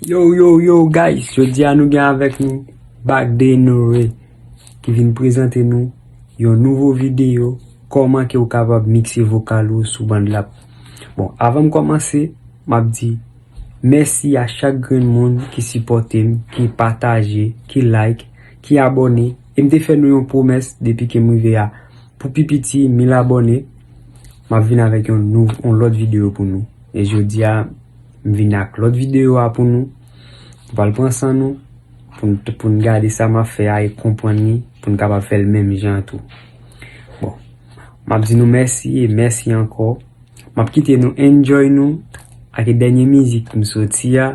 Yow yow yow guys jodi a nou gen avèk nou back denoue ki vin prezante nou yon nouvo video kòman ke ou kapab mikse vokal ou sou bandlap bon avan m kòmanse m ap di mèsi a chak grenn moun ki sipòte m ki pataje ki like ki abòne e m te fè nou yon pwomès depi ke m rive a pou pi piti 1000 abòne m ap vin avèk yon lòt video pou nou e jodi a M vin ak lòt videyo a pou nou. Nou pral pran san nou pou n gade sa m ap fè a e konprann li pou n kapab fè l menm jan an tou. Bon, m ap di nou mèsi e mèsi ankò. M ap kite nou enjoy nou ak dènye mizik m soti a.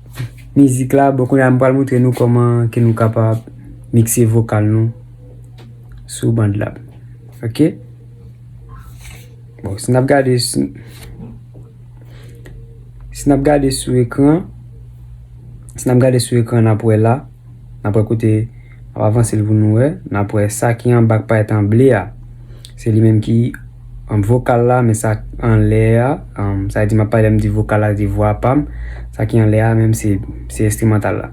Mizik la, bon kounye a m pral montre nou kòman ke nou kapab mikse vokal nou sou band la. Ok? Bon, si n ap gade si n ap gade sou ekran si n ap gade sou ekran n ap wè la. Nap wè kote ap avanse l pou nou wè. Nap wè sa ki anba payèt an ble a. Se li menm ki an vokal la men sa an lè a. Sa di map pale m di vokal la di vwa pam. Sa ki an lè a menm se enstrimantal la.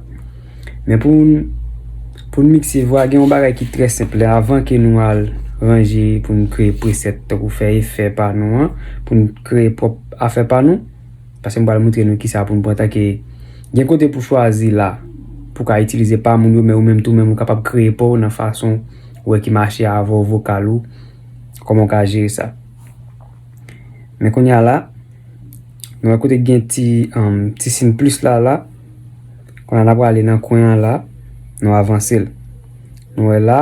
Men pou nou mikse vwa gen yon bagay ki trè senp la. Avan ke nou al ranje pou nou kreye preset. Tankou fè efè pa nou an. Pou nou kreye pwòp afè pa nou. Pase m pral moutre nou kisa pou nou pran tan ke gen kote pou chwazi la pou ka itilize pa moun yo men ou menm tou menm ou kapab kreye pa w nan fason ou wè ki mache avè w vokal ou kòman ou ka jere sa men kounye a la nou wè kote gen ti ti sin plis la la kounye a n ap prale nan kwen an la nou avanse l nou wè la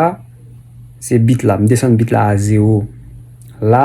se bit la m desann bit la a 0 la.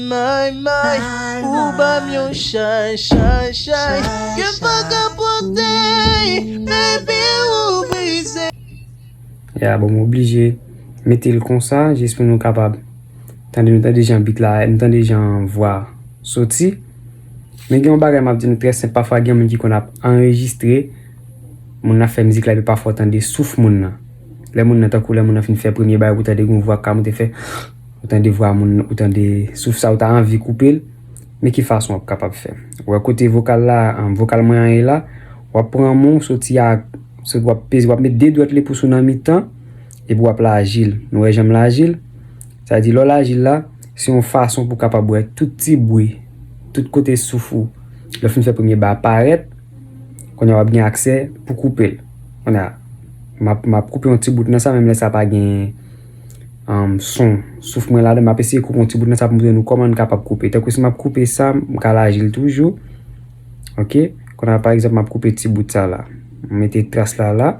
May may ou banm yon chay chay chay ke m paka pote baby ou brize. Ya bon m oblije mete l konsa jis pou nou kapab tande nou tande jan beat la nou tande jan vwa soti men gen yon bagay map di nou trè senp pafwa gen moun ki konn ap anrejistre moun nan ap fè mizik la epi pafwa w tande souf moun nan lè moun nan tankou lè moun nan fin fè premye bagay ou tande gen yon vwa k ka monte fè. Ou tande vwa moun ou tande souf sa ou ta anvi koupel men ki fason wap kapab fè ou wè kote vokal la vokal mwen an ye la wap pran men w soti ak sot wap peze wap met 2 dwèt lepous ou nan mitan epi wap lajil nou wè janm lajil sa vle di lè w lajil la se yon fason pou kapab wè tout ti bwi tout kote souf ou lè w fin fè premye ba a parèt kounye a wap gen aksè pou koupel kounye a map map koupe yon ti bout nan sa menm lè sa pa gen son souf mwen ladan map eseye koupe yon ti bout nan sa pou m montre nou kòman n kapab koupe tankou si map koupe sa m ka laji l toujou ok konnya pa egzanp map koupe ti bout sa la m mete tras la la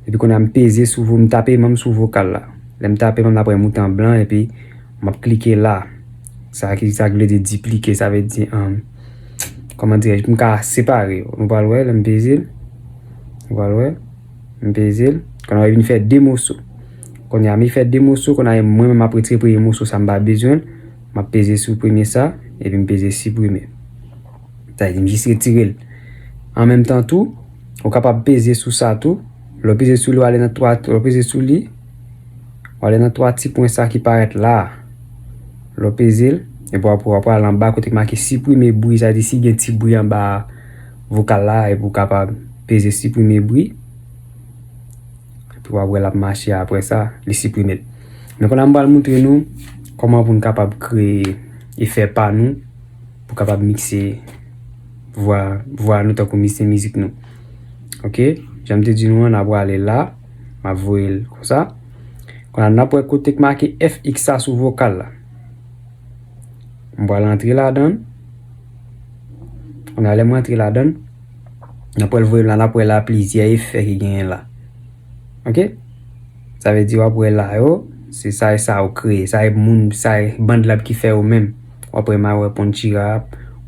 epi konnya m peze sou m tape menm sou vokal la lè m tape menm la pran yon mouton blan epi map klike la sa ki sa ki vle di diplike sa vle di kòman dirèj pou m ka separe yo nou pral wè lè m peze l nou pral wè M peze l. Kounye a li vin fè 2 moso. Kounye a mi fè 2 moso, kounye a mwen menm m ap retire premye moso sa m pa bezwen l. M ap peze sou premye sa, epi m peze siprime. Sa vle di m jis retire l. An menm tan tou, ou kapab peze sou sa tou. Lè w peze sou li, w ale nan 3, lè w peze sou li, w ale nan 3 ti pwen sa ki parèt la a. Lè w peze l, epi w ap pran anba kote ki make siprime bri, sa vle di si gen ti bri anba a. vokal la epi ou kapab peze siprime bri epi wap wè lap mache aprè sa li siprime l men kounya m pral moutre nou kòman pou nou kapab kreye efè pa nou pou kapab mikse vwa vwa nou tankou mikse mizik nou ok janm te di nou an na prale la ma voye l konsa kounya nap wè kote ki make fx sa sou vokal la m pral antre ladan l. Nan lè m rantre ladan, n ap wè l voye m la, n ap wè la plizyè efè ki genyen la. Ok? Sa vle di w ap wè la yo, se sa e sa ou kreye, sa e moun, sa e bandlab ki fè ou menm. W ap wè ma wè ponchira,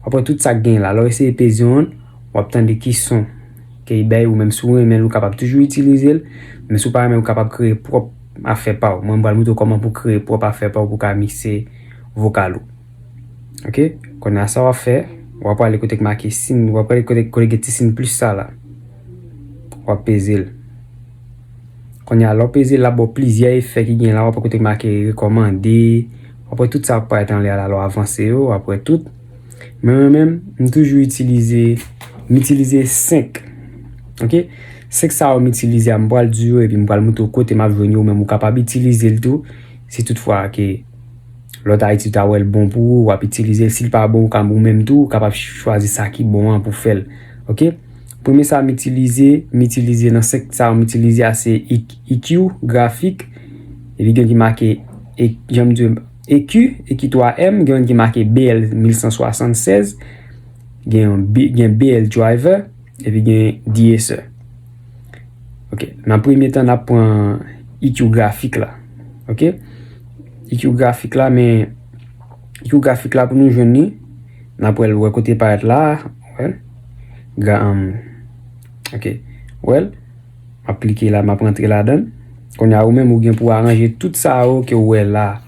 w ap wè tout sa k genyen la. Lè w eseye peze yon, w ap tande ki son ke li bay ou menm. Si w renmen l, ou kapab toujou itilize l. Men si w pa renmen l, ou kapab kreye pwòp afè pa ou. Mwen m pral montre w kòman pou w kreye pwòp afè pa ou pou w ka mikse vokal ou. Ok, konnen a sa wap fè, wap wale kote k make sin, wap wale kote k kote gen ti sin plis sa la. Wap peze l. Konnen a lò peze l ap bo plizyè efè ki gen la, wap wale kote k make rekomande, wap wale tout sa wap wale tanle a la lò avanse yo, wap wale tout. Men mwen men, m toujou itilize, m itilize 5. Ok, 5 sa wap m itilize a m wale di yo, epi m wale moutou kote m ap jwen yo, men m wap kapab itilize l tou, si tout fwa ke. Lòt Ayiti ta wèl bon pou ou wap itilizel sil pa bon ou ka ou menm tou ou kapab chwazi sa ki bon an pou fèl ok premye sa m itilize m itilize nan 5 sa m itilize a se EQ grafik epi gen ki make janm di EQ EQ 3 M gen yon ki make BL 1176 gen BL driver epi gen DSR Ok, nan premye tan nap pran EQ grafik la. Ok, EQ grafik la men EQ grafik la pou nou jwenn ni, nan pwèl wè kote parèt la, wèl, ga an, ok, wèl, ap klike la, map rentre la dan, konye a ou men mou gen pou aranje tout sa ou ke wè la,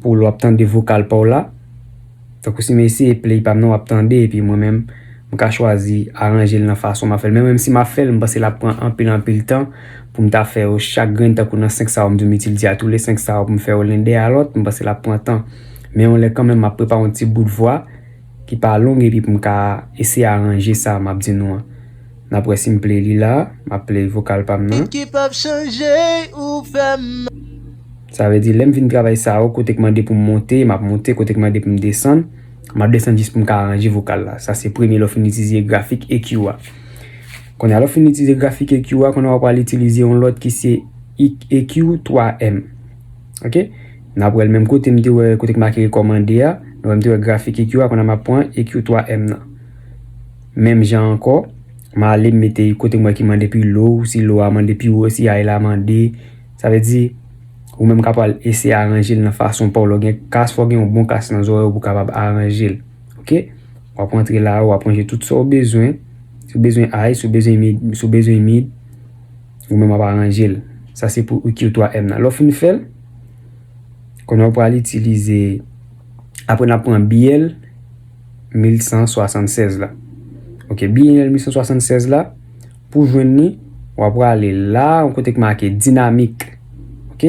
pou lwap tan de vokal pa ou la. Tankou si m eseye play pa m nan w ap tande epi mwen menm m ka chwazi aranje l nan fason m ap fè l men menm si m ap fè l m panse l ap pran anpil anpil tan pou m ta fè yo chak grenn tankou nan 5 sa yo m di w m itilze a tou le 5 sa yo pou m fè yo len dèyè lòt m panse l ap pran tan men yon lè kanmenm m ap prepare yon ti bout vwa ki pa long epi pou m ka eseye aranje sa m ap di nou an. Nap wè sim play li la. Map play vokal pam nan. Sa vle di lèm fin travay sa yo kotek mande poum monte map monte kotek mande poum desann map desann jis poum ka aranje vokal la sa se premye lèw fin itilize grafik EQ a kounya lèw fin itilize grafik EQ a kounya wap al itilize yon lòt ki se EQ 3 M ok nap wèl menm kote mte wè kote ki make rekòmande a nou wè mte wè grafik EQ a kounya map pran EQ 3 M nan. Menm jan ankò, m ale m mete kote m wè ki mande pi lo, si lo a mande pi wo, si ay la mande. Sa vle di, ou menm ka pral eseye aranje l nan fason pa w. Lè w gen kas, fò w gen yon bon kas nan zòrèy w pou w kapab aranje l. Ok? W ap rantre la a, w ap ranje tout sa w bezwen. Si w bezwen ay, si w bezwen mid, si w bezwen mid, ou menm w ap aranje l. Sa se pou EQ 3M nan. Lè w fin fè l, kounye a ou pral itilize, apre n ap pran biyè l. 1176 la. Ok, bienal 1176 la, pou jwenn ni, wap wale la, yon kote k make dinamik. Ok,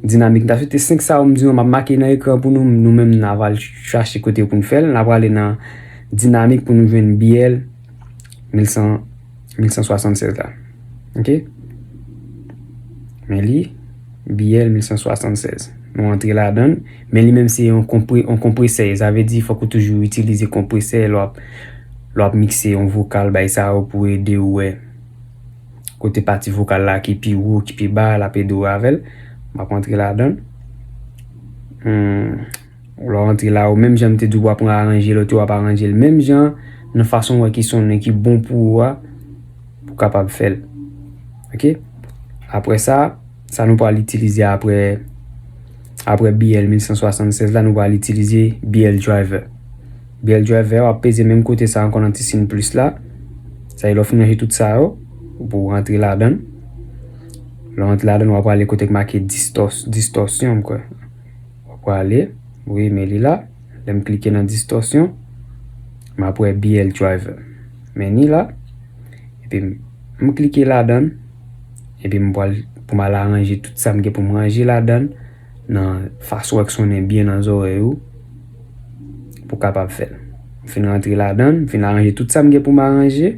dinamik ta sou te 5 sa ou m di yon map make nan ekran pou nou, nou menm nan wale chache kote pou nou fèl, nan wale nan dinamik pou nou jwenn bienal 1176. 1176 la ok men li biyèl 1176 nou antre la dan men li menm se yon konpre yon konpresè sa vle di fòk ou toujou itilize konpresè lò ap lò ap mikse yon vokal bay sa ou pou ede ou wè kote pati vokal la ki pi wo ki pi ba la pedo avèl map antre la dan. Ou la w antre la ou menm jan m te di w wap pran aranje lòt yo wap aranje l menm jan nan fason wè ki sonnen ki bon pou ou a pou kapab fè l ok apre sa sa nou pral itilize apre apre BL 1176 la nou pral itilize BL driver BL driver wap peze menm kote sa ankon nan ti sin plis la sa e lò fin manje tout sa yo pou antre la dan lò antre la dan wap pral ale kote k make distos distorsion m kwè Mwen pwale wi men li la lèm klike nan distòsyon map wè BL driver men ni la epi m klike ladann epi m pwal pou m al aranje tout sa m gen pou m ranje ladann nan fason ak sonnen byen nan zòrèy ou pou kapab fèl m fin rantre ladann m fin aranje tout sa m gen pou m aranje.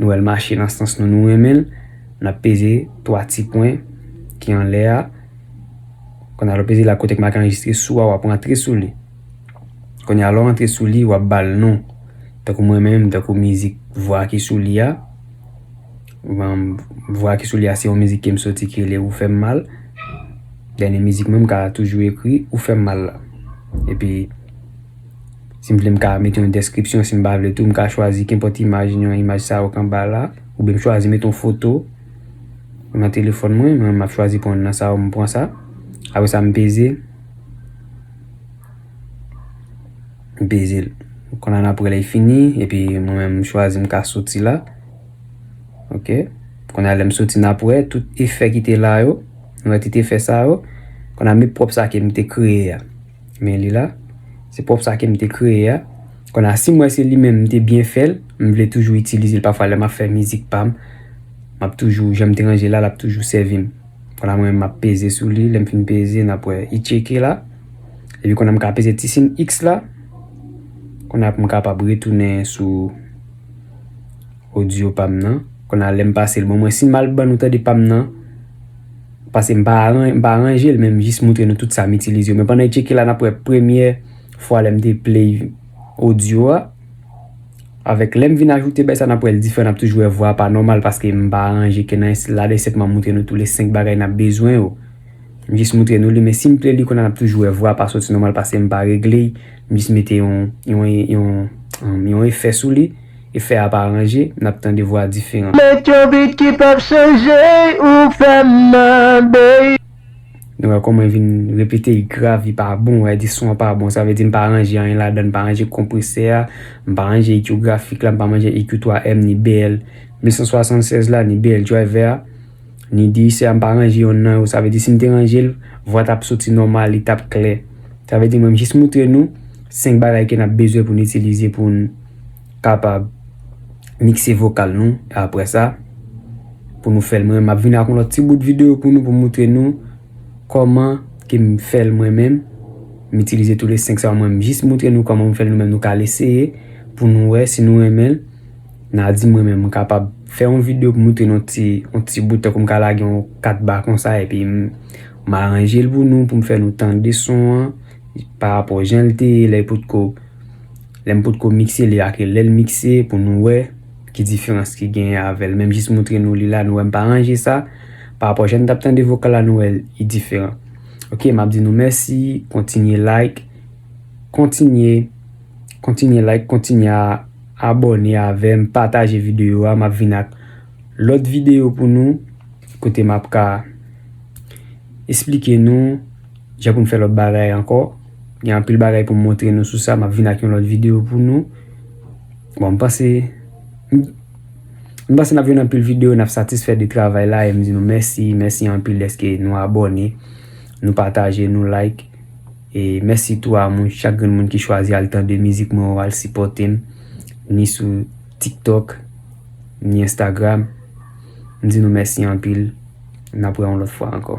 Nou wè l mache nan sans nou, nou renmen l. N ap peze twa ti pwen ki anlè a. Kounye a, lè w peze la kote ki make anrejistre sou a, w ap rantre sou li. Kounye a, lè w rantre sou li, w ap ba l non. Tankou mwen menm, tankou mizik vwa ki sou li a. Vwa ki sou li a se yon mizik ke m soti ki rele ou fè m mal. Dènye mizik mwen m ka toujou ekri ou fè m mal la. Epi. Si m vle m ka mete yon deskripsyon, si m pa vle tou m ka chwazi kenpòt imaj nan imaj sa yo k anba la. Oubyen m chwazi mete yon foto nan telefòn mwen, mwen menm m ap chwazi pran youn nan sa yo m pran sa. Apre sa m peze, m peze l. Kon la n ap wè lè l fini epi mwen menm m chwazi m ka soti la. Ok, kon la lè m soti n ap wè tout efè ki te la yo, nou wè tout efè sa yo. Kon la m met pwòp sa ke m te kreye a. Men li la. Se pwòp sa kem te kreye a. Kona sim wè se li menm m te byen fèl, m vle toujou itilize l pafwa lè map fè mizik pam, map toujou janm te ranje la lap toujou sèvim. Kona mwen menm map peze sou li, lèm fin peze nap wè i tcheke la. Epi kona m ka peze ti sin X la. Kona pou m kapab retounen sou. Audio pam nan Kona lèm pasel bon mwen sim mal ban nou tande pam nan pasem pa mpa ranjel menm jis moutre nou tout sam itilize yo men pandan yp tcheke la nap wè premyè fwa lèm te play audio a avèk lèm vin ajoute bay sa nap wèl diferan nap toujou wè vwa pa nòmal paske mpa ranje ken nan la de sèt map moutre nou tou le 5 bagay nap bezwen yo mjis moutre nou li men sim play li kona nap toujou wè vwa pa soti nòmal pasem pa regle mjis mete yon yon yon efè souli. Efè a pa ranje, n ap tande vwa diferan. Met yon beat ki p ap chanje, ou fè m mande. Nou wè kòman vin repete y grav, li pa bon, wè di son an pa bon. Sa vle di m pa ranje anyen ladan, m pa ranje konpresè a, m pa ranje EQ grafik la, m pa ranje EQ 3M ni BL 1076 la, ni BL Driver a. Ni di sè a m pa ranje yonn nan yo. Sa vle di si m te ranje l, vwa t ap soti nòmal, li t ap klè. Sa vle di mwen jis moutre nou 5 bagay ke n ap bezwen pou n itilize pou n kapab mikse vokal nou. E apre sa, pou nou fè l mwen menm. M ap vini ak yon lòt ti bout videyo pou nou pou m moutre nou kòman ke m fè l mwen menm. M itilize tou le 5 sa yo mwen menm. M jis moutre nou kòman m fè l nou menm. Nou ka al eseye pou nou wè si nou renmen l. Nadi mwen menm m kapab fè yon video pou moutre nou ti yon ti bout tankou m ka lage yon 4 ba konsa epi m aranje l pou nou pou m fè nou tande son an pa rapò jan l te ye lè potko lè m potko mikse li ak lè l mikse pou nou wè ki diferans ki gen avèl menm jis moutre nou li la nou wè m pa ranje sa pa rapò jan n tap tande vokal la nou wè li diferan ok m ap di nou mèsi kontinye like kontinye kontinye like kontinye a. Abòne avèm pataje video a map vin ak lòt video pou nou kote map ka esplike nou jan pou nou fè lòt bagay ankò gen anpil bagay pou montre nou sou sa map vin ak yon lòt video pou nou bon mpanse mpanse nap jwenn anpil video nap satisfè de travay la e mdi nou mèsi mèsi anpil deske nou abòne nou pataje nou like. E mèsi tou a moun chak grenn moun ki chwazi al tande mizik mwen ou al sipòte m ni sou TikTok ni Instagram. M di nou mèsi anpil. N ap wè yon lòt fwa ankò.